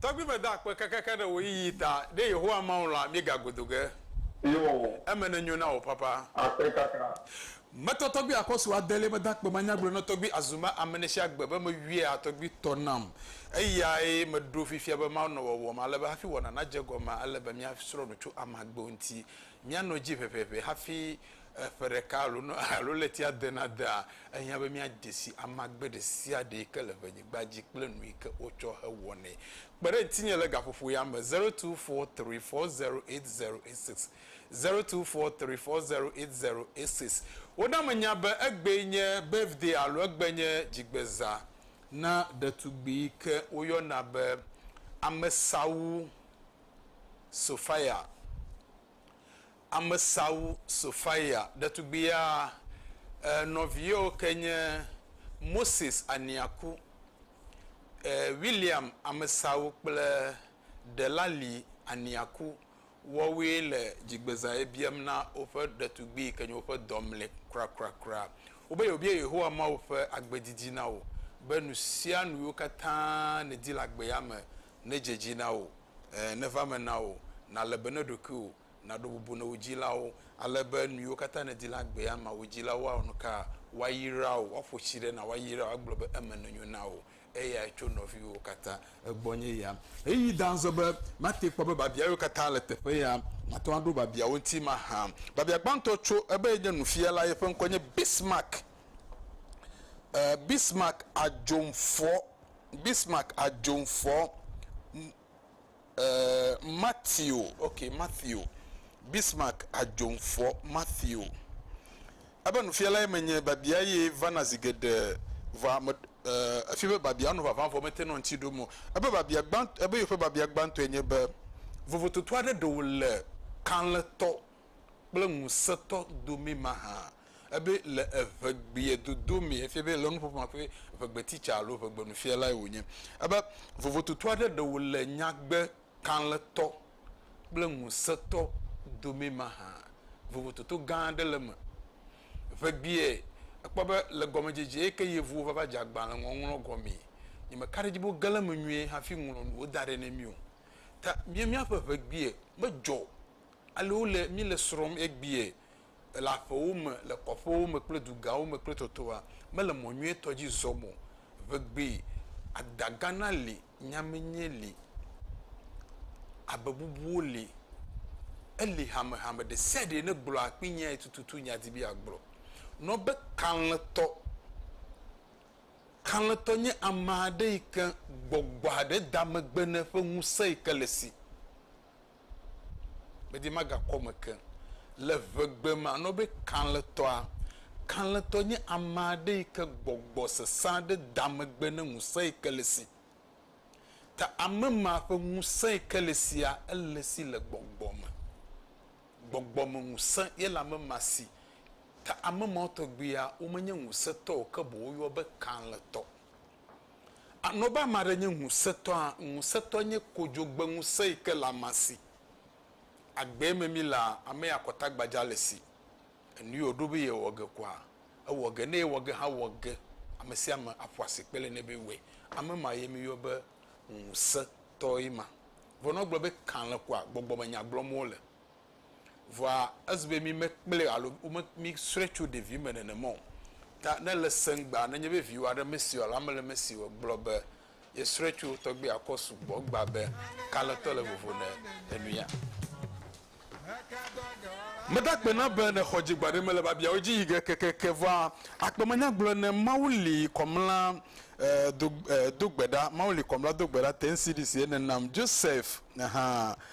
[SPEAKER 1] Tɔgbi meda akpe kekeake ɖe wò yiyi ta, ɖe Yehowa Mawu la, mígago do ge. Eo.
[SPEAKER 7] Eme nenyo na wò papa.
[SPEAKER 1] Akpe kaka.
[SPEAKER 7] Metɔ tɔgbi
[SPEAKER 1] akɔsu adelie meda akpe manya gblɔe na tɔgbi azuma amenesiagbe be meyuia tɔgbi tɔ nam. Eyae meɖo fifia be Mawu nɔ wɔwɔm ale be hafi wɔna nadze egɔme ele be míasrɔ̃ nu tso ame agbewo ŋuti. Míanɔ edzi ʋɛʋɛʋɛ hafi Eƒe ɖeka alo nu alo ɣleti adenadea, ehiã be míadze si amagbe ɖe sia ɖe yi ke le ʋenyigba dzi kple nu yi ke wotsɔ hewɔnɛ. Kpe ɖe ŋutinye le gaƒoƒo ya me, zero two four three four zero eight zero eight six, zero two four three four zero eight zero eight six. Woɖa menya be egbee nye birthday alo egbe nye dzigbezã na ɖetugbui yi ke woyɔna be Amesawu Sophia. Amesawu Sofaya ɖetugbuia e nɔviyewo ke nye Moses Aniaku, e William Amesawu kple Delali Aniaku wɔwoe le dzigbezaɣe biam na woƒe ɖetugbui ke nye woƒe dɔ mlɛ kurakura wobe yewobia Yehowa Mawu ƒe agbe didi na wo be nusianu yiwo katã nèdi le agbea me nedze edzi na wò, e neva eme na wò, nàle be na ɖokuiwò. nàɖo bubu na wò dzilawo, ale be nuyiwo katã nèdi le agbea me wò dzilawo awɔ nuka? Woayra wò, woaƒo tsi ɖe na wò, ayra wò, agblɔ be eme nenyo na wò. Eyae tso nɔviwòwo katã gbɔ nye ya. Ɣeyiɣi da azɔ be mate kpɔ be biabia yewo katã le teƒe ya. Mate ŋu aɖo biabiawo ŋuti mahã. Biabia gbãtɔ tso ebe yenye nufiala, yeƒe ŋkɔe nye Bismarck, Bismarck Adjomfoɔ, Bismarck Adjomfoɔ. Ɛɛ, Matthew, ok, Matthew, Bismarck Adzomfɔ Matthew. Ebe nufialae menye, biabia ye vana zi geɖe, vɔa me, ɛɛ, efia be biabia nu vavã vɔ mete nɔ ŋuti ɖom o. Ebe biabia gbãtɔ, ebe yewo ƒe biabia gbãtɔe nye be, Vovototo aɖe ɖe wòle kalẽtɔ kple ŋusẽtɔ domee mahã. Ebe le eŋegbea dodo mee efia be le nuƒoƒo ma ƒe ŋegbeteacher alo ŋegbenufialae wònye. Ebe vovototo aɖe ɖe wòle nyagbe kalẽtɔ kple ŋusẽtɔ domee mahã. Vovototo gã aɖe le eme. Ŋegbea ekpɔ be le gɔmedzedze yi ke Yevuwo va va dze agbalẽ ŋɔŋlɔ gɔmee, nyemeka ɖe edzi be woge ɖe eme nyuie hafi ŋlɔ nuwo da ɖɛ na mí o. Ta mía míaƒe ŋegbea medzɔ Ale wole, míle srɔ̃m egbea, le aƒewo me, le kɔƒewo me kple dugawo me kple tɔtɔa, mele mɔ nyuietɔ dzi zɔm o. Vegbee, adagana li, nyamenye li, habebubuwo li. Eli hamehame ɖe sia ɖe ne gblɔa kpi nyae tututu nya di be yeagblɔ. Nɔ be kalẽtɔ. Kalẽtɔ nye ame aɖe yi ke gbɔgbɔ aɖe da megbe ne eƒe ŋusẽ yi ke le si. medi magakɔ eme ke. Le ʋegbe me anɔ be kalẽtɔa. Kalẽtɔ nye ame aɖe yi ke gbɔgbɔ sesẽ aɖe da megbe ne ŋusẽ yi ke le esi. Ta ame ma ƒe ŋusẽ yi ke le esia ele esi le gbɔgbɔ me. Gbɔgbɔ me ŋusẽ ye le ame ma si. Ta ame mawo tɔgbuia womenye ŋusẽtɔ o ke boŋ woyɔ be kalẽtɔ. Anɔ be ame aɖe nye ŋusẽtɔa, ŋusẽtɔ nye kodzogbe ŋusẽ yi ke le amea si. Agbee me mílea, ame ya kɔta gbadza le si. Enui wòɖo be yewɔ ge kɔa, ewɔ ge, ne yewɔ ge hã wɔ ge, ame sia ame aƒo asikpe le nɛ be wɔe. Ame ma ye míyɔ be ŋusẽtɔe ma. Vɔ ne wogblɔ be kalẽ kɔa, gbɔgbɔmenya gblɔm wole. Vɔa ezi be mi mekplɛ alo wome mi srɔe tso ɖevi me nenema o. Ta ne le sɛngbea nenye be viwò aɖe mesi o alo ame le mesi o gblɔ be ye srɔe tso tɔgbi akɔ sugbɔ egba be kalẽtɔ le vovo ne enuya. Meda kpe na be ne xɔ dzigba ɖe mele babiawo dzi yi ge kekeke vɔa akpe me nya gblɔ ne Mawu li kɔmla eh do eh do gbe ɖa Mawu li kɔmla do gbe ɖa te ŋsi ɖi si ye nenam Joseph eh hã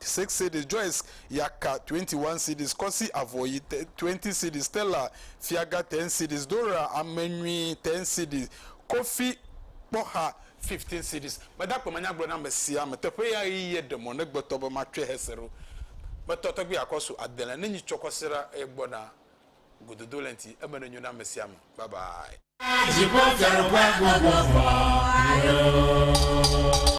[SPEAKER 1] six cedis, Joyce ya ka twenty one cedis, Kɔsi Avɔyi te twenty cedis, Stella Fiaga ten cedis, Dora Amenyui ten cedis, Kofi Kpɔxa fifteen cedis. Meda akpe manyagblɔ na ame sia ame teƒe ya ɣiye ɖe mɔ ne gbetɔ be matsɔe hese ɖo. Metɔ tɔgbi akɔ so adele ne nyi tsɔkɔ se ɖa eye gbɔna gododo le ŋti eme ne nyo na ame sia ame. Bye bye. Dziƒo dzeɖoƒe gbogbo vɔ alo.